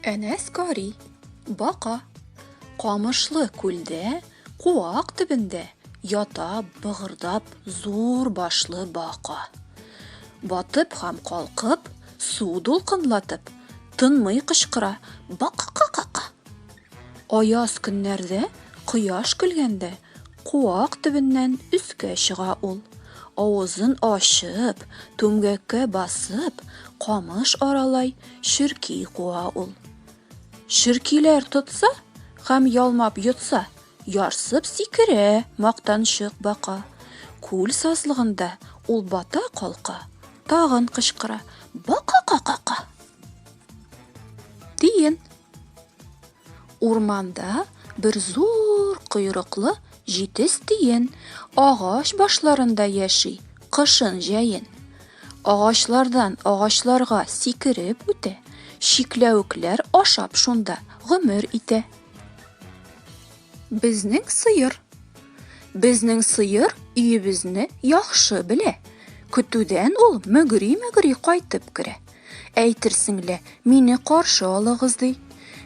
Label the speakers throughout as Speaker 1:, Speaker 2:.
Speaker 1: Әнәс Кари, бака, камышлы күлдә, куак төбендә ята быгырдап зур башлы бака. Батып һәм калкып, су дулкынлатып, тынмый кычкыра, бака-ка-ка-ка. Аяз көннәрдә, кояш көлгәндә, куак төбеннән өскә чыга ул. Авызын ачып, түмгәккә басып, камыш аралай, черки куа ул. Черкиләр тотса һәм ялмап йотса, ярсып сикерә мактанчык бака. Күл сазлыгында ул бата калка, тагын кычкыра, Бака-ка-ка-ка! Диен. Урманда бер зур койрыклы җитез тиен агач башларында яши, кышын җәен. Агачлардан агачларга сикереп үтә, чикләвекләр ашап шунда гомер итә. Безнең сыер. Безнең сыер өебезне яхшы белә. Көтүдән ул мөгри-мөгри кайтып керә. Әйтерсең лә, мине каршы алыгыз, ди.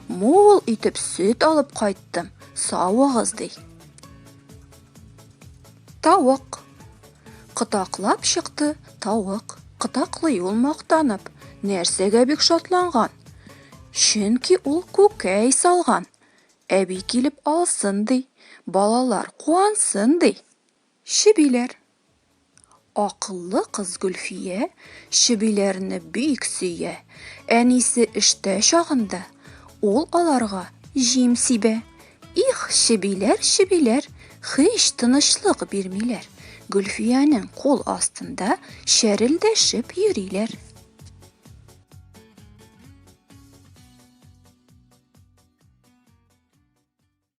Speaker 1: Мул итеп сөт алып кайттым, савыгыз, ди. Тавык. Кытаклап чыкты тавык. Кытаклый ул мактанып. Нәрсәгә бик шатланган? Чөнки ул күкәй салган. Әби килеп алсын, ди. Балалар куансын, ди. Чебиләр. Акыллы кыз Гөлфия чебиләрне бик сөя. Әнисе эштә чагында, ул аларга җим сибә. Их, чебиләр, чебиләр, һич тынычлык бирмиләр. Гөлфиянең кул астында чәрелдәшеп йөриләр.